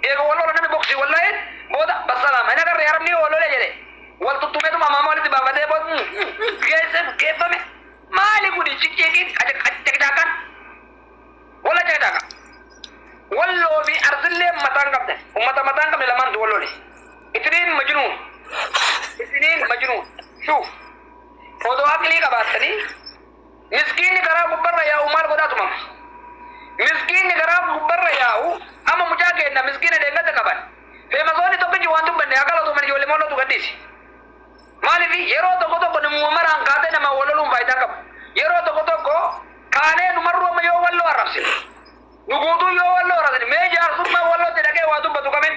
Eega wal lola namni boksii wal la'een booda bassalaama hin agarre arabni yoo wal lole jedhe wal tuttumeetuma amaama walitti baafatee booda geesse geeffame maali gudi ciqiiqiin caqicaakaan walla caqicaakaa. Walloo fi arsillee mataan qabdan ummata mataan qabne lamaantu wal lole. Isiniin majnuun isiniin majnuun shuuf odoo aqlii qabaattanii Miskiinni karaa gubbarra yaa'u maal godhaa tumama? Miskiinni karaa gubbarra yaa'u amma mucaa keenna miskiina dheengadda qaban feemasoonni tokkichi waan dubbanne haa galatooman ijoollee mollootu gadhiisi. Maaliifi yeroo tokko tokko namuma maraan kaatee namaan wal loluun faayidaa hin qabu. Yeroo tokko tokko kaanee nu marruu amma yoo walloo arrabsine nu guutuu yoo walloo arrabsine mee jaarsummaan wallootti dhaqee waa dubbatu kamiin?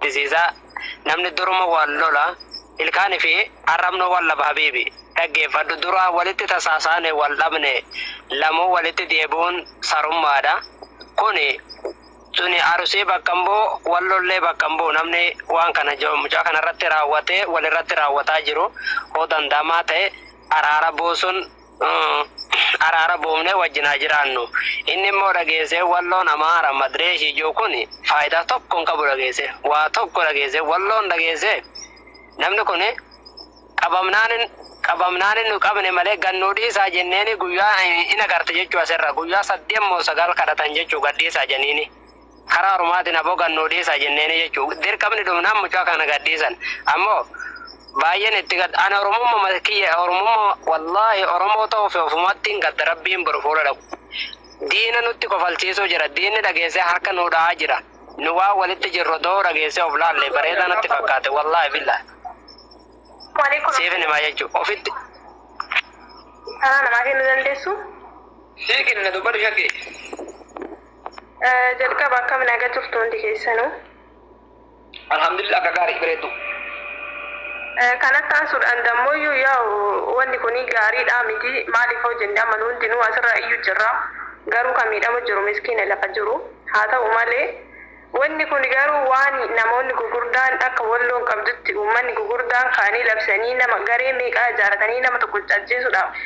This is a Namni duruma wal lola Ilkaan fi arrabnu wal dhaba habiibi Dhaggeeffadhu Duraa walitti tasaasaane wal dhabne Lamuu walitti deebi'uun sarummaadha Kuni Tuni Arusii bakka hin bu'u Wal lollee bakka hin bu'u Namni waan kana mucaa kanarratti raawwate walirratti raawwataa jiru hoo danda'amaa ta'e araara buusuun araara buufnee wajjin haa jiraannu. Inni immoo dhageessee walloon Amaara madree ishii jiru kun faayidaa tokko hin qabu dhageessee waa tokko dhageessee walloon dhageessee namni kun qabamnaan qabamnaan inni qabne malee gad nuu dhiisaa jenneeni guyyaa in agarta jechuu asirra guyyaa saddeet moo sagal kadhatan jechuu gad dhiisaa jeniini. Karaa ormaatiin aboo gad nuu dhiisaa jenneenii jechuun dirqamni dhumnaan mucaa kana gad dhiisan. Ammoo baay'een itti gadda. Ani Oromummuma kiyya Oromummuma wallaahi Oromoo ta'uu fi ofumattiin gadda Rabbiin boru fuula dhaqu. Diina nutti kofalchiisuu jira. Diinni dhageessee harka nuu dha'aa jira. Nu waan walitti jirru odoo dhageessee of laallee bareedaa natti fakkaate wallaahi billaahi. Waalaikum Siifin himaa jechuun ofitti Karaa namaa kennuu dandeessu? Sii kenna dubbadhu shakkii. Jalqaba akkam naga turtu hundi keessanuu. Alhamdulillah akka gaarii bareeddu. Kanatti aansuudhaan dammooyyuu yaa'u wanni kun gaariidhaa miti maaliif hoo jenne amma nu hundinuu asirra iyyuu jirra garuu kan miidhama jiru miskiina lafa jiru haa ta'u malee wanni kun garuu waan namoonni gugurdaan akka walloon qabdutti uummanni gugurdaan ka'anii labsanii nama garee meeqaa ijaaratanii nama tokko ajjeesuudhaaf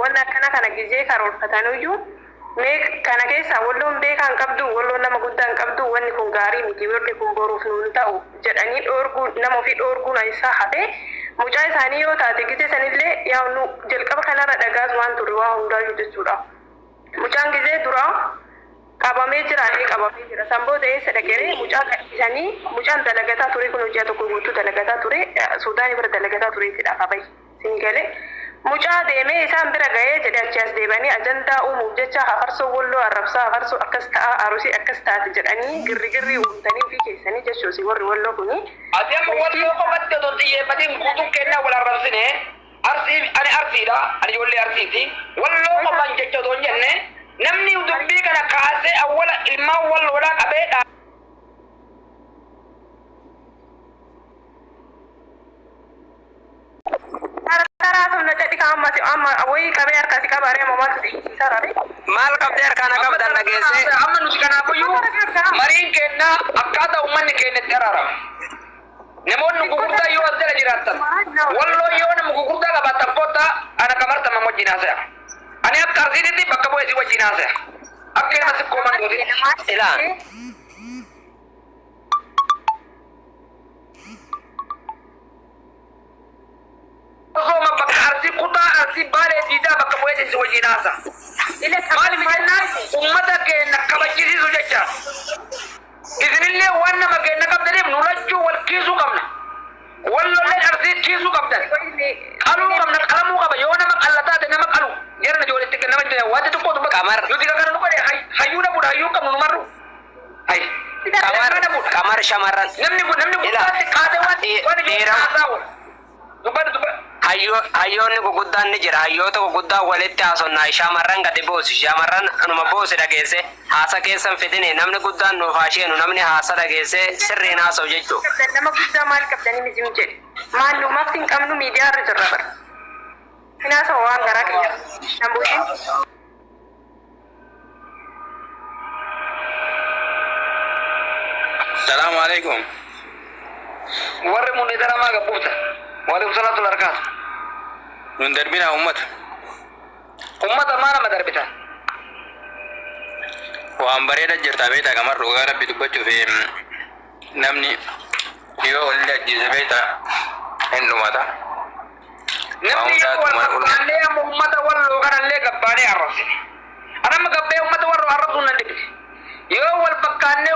wanna akkana kana gizee karoorfatanuyyuu Meeq kana keessaa Wolloon beekaa hin qabduu, Wolloon nama guddaa hin qabduu, wanni kun gaarii miti, worri kun boruuf nuu hin ta'u jedhanii dhoorguun, nama ufii dhoorguun eessaa hafee, mucaa isaanii yoo taate gizee sanillee yaa nu jalqaba kanarra dhagaasumaan turre waa hundaayyuu jechuudha. Mucaan gizee duraa qabamee jira, ee qabamee jira, san booda eessa dhaqeree, mucaa gadhiisanii, mucaan dalagataa turee kunoo ji'a tokko guutuu dalagataa turee, Suudaanii bira dalagataa tureetidha ka bahe. sin gale mucaa deemee isaan bira gahee jedhe achii as deebi'anii ajandaa uumuuf jecha hafarsoo wolloo arrabsaa hafarsoo akkas ta'aa arusii akkas taati jedhanii girrigirrii uumtanii ofii keessanii jechuusi worri wolloo kuni Ati amma Walloo miftii qofatti otoo hin xiyyeeffatiin guutuun keenyaa wal arrabsine Arsii ani Arsiidha ani ijoollee Arsiiti Walloo qofaan jecha otoo hin jenne namni dubbii kana kaasee awwala ilmaan Walloodhaa qabee dhaa Qarqaraa sun na cedhika amma si amma woyii qabee harkaa si qabaa ree amma maaltu si iyyichiisaa ra ree. Maal qabdee harkaa na qabda na geessee. Amma nuti kanaafuyyuu mariin keenna akkaataa ummanni keenna itti araaramu. Namoonni gugurdaa yoo as jala jiraattan Walloo yoo nama gugurdaa qabaattan kottaa ana Qamar Tammam wajjiin haasaya. Ani akka Arsiititti bakka bu'ee isin wajjiin haasaya. Akka ilma sikkoo mandootitti. Ilaa. Osooma bakka Arsii kutaa Arsii Baalee diidaa bakka bu'eetiin si wajjiin haasa. Maaliif jennaan ummata keenna kabajjisiisuu jecha. Isinillee waan nama keenna qabdaniif nu lachuu wal kiisuu qabna. Wallolleen Arsii kiisuu qabdan. Qaluu qabna qalamuu qaba yoo nama qalla taate nama qalu jarana joole itti kenna malee wanti tokko dubbatu. Nuti ka kana nu godhe hayyuu dhabuudha hayyuu hin qabnu nu marru. Qamar shamarran hayyoonni guguddaan ni jira hayyoota guguddaa walitti haasonnaa shaamarran gadi buusi shaamarran anuma buusi dhageesse haasa keessan fidini namni guddaan nuuf haasheenu namni haasa dhageesse sirriin haasa'u jechuu nama guddaa maal qabdanii mizim jedhe maal nu mafti hin qabnu miidiyaa irra jirra bara hinaasa waan garaa keenya nambuutiin Salaamu alaikum. Warri mun idara maa gabbufta. Waalaikum salaam tula harkaatu. Nun darbinaa ummata. Ummata maa nama darbita. Waan bareeda jirta beektaa gamar dhugaa rabbi dubbachuuf em, namni yoo olli ajjeese beektaa hin dhumata. Nama hundaatu mana ol Namni amma ummata walloo kanallee gabbaanee arrabsine. An amma gabbee ummata warroo arrabsuun nan dhiphise. Yoo wal fakkaannee